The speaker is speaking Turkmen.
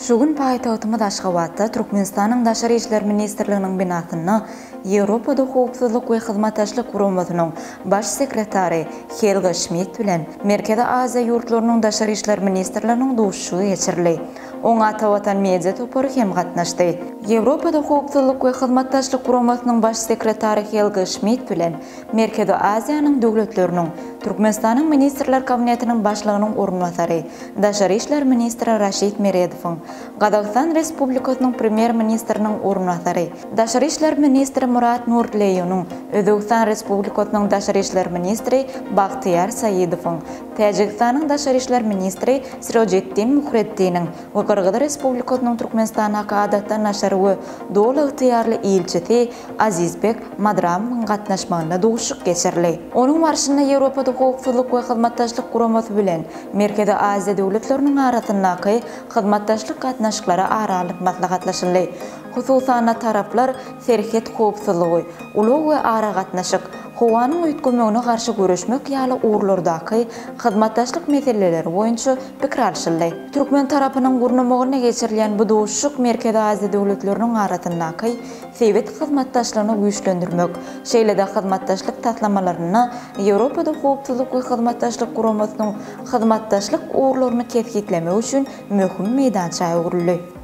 Şu gün paýtagtymyz Aşgabatda Türkmenistanyň Daşary işler ministrliginiň binasynda Ýewropada Howpsuzlyk we Hyzmatdaşlyk Guramasynyň Baş sekretary Helga Şmit bilen Merkezi Aziýa ýurtlarynyň Daşary işler ministrleriniň duşuşygy geçirildi. Oňa Atavatan media topary hem gatnaşdy. Ýewropada Howpsuzlyk we Hyzmatdaşlyk Guramasynyň Baş sekretary Helga Şmit bilen Merkezi Aziýanyň döwletleriniň Türkmenistanyň Ministrler Kabinetiniň Başlygynyň orunbasary, daşary işler ministri Raşid Meredowyň, Gazagystan Respublikasynyň Premýer-ministriniň orunbasary, daşary işler ministri Murat Nurtleýunyň, Özbegistan Respublikasynyň daşary işler ministri Bagtyýar Saidowyň, Täjigistanyň daşary işler ministri Sirojiddin Muhreddiniň we Gyrgyz Respublikasynyň Türkmenistandaky Adatdan daşary we Doly ygtyýarly ilçisi Azizbek Madramowyň gatnaşmagynda duşuşyk geçirildi. Onuň barşynda Ýewropada Howpsuzlyk we Hyzmatdaşlyk Guramasy bilen Merkezi Aziýa döwletleriniň arasyndaky hyzmatdaşlyk gatnaşyklary ara alnyp maslahatlaşyldy. Hususan-da, taraplar serhet howpsuzlygy, ulag we aragatnaşyk, howanyň üýtgemegine garşy göreşmek ýaly ugurlardaky hyzmatdaşlyk meseleleri boýunça pikir alşyldy. Türkmen tarapynyň gurnamagynda geçirilýän bu duşuşyk Merkezi Aziýa döwletleriniň arasyndaky sebit hyzmatdaşlygyny güýçlendirmek, şeýle-de hyzmatdaşlyk taslamalarynda Ýewropada Howpsuzlyk we Hyzmatdaşlyk Guramasynyň hyzmatdaşlyk ugurlaryny kesgitlemek üçin möhüm meýdança öwrüldi.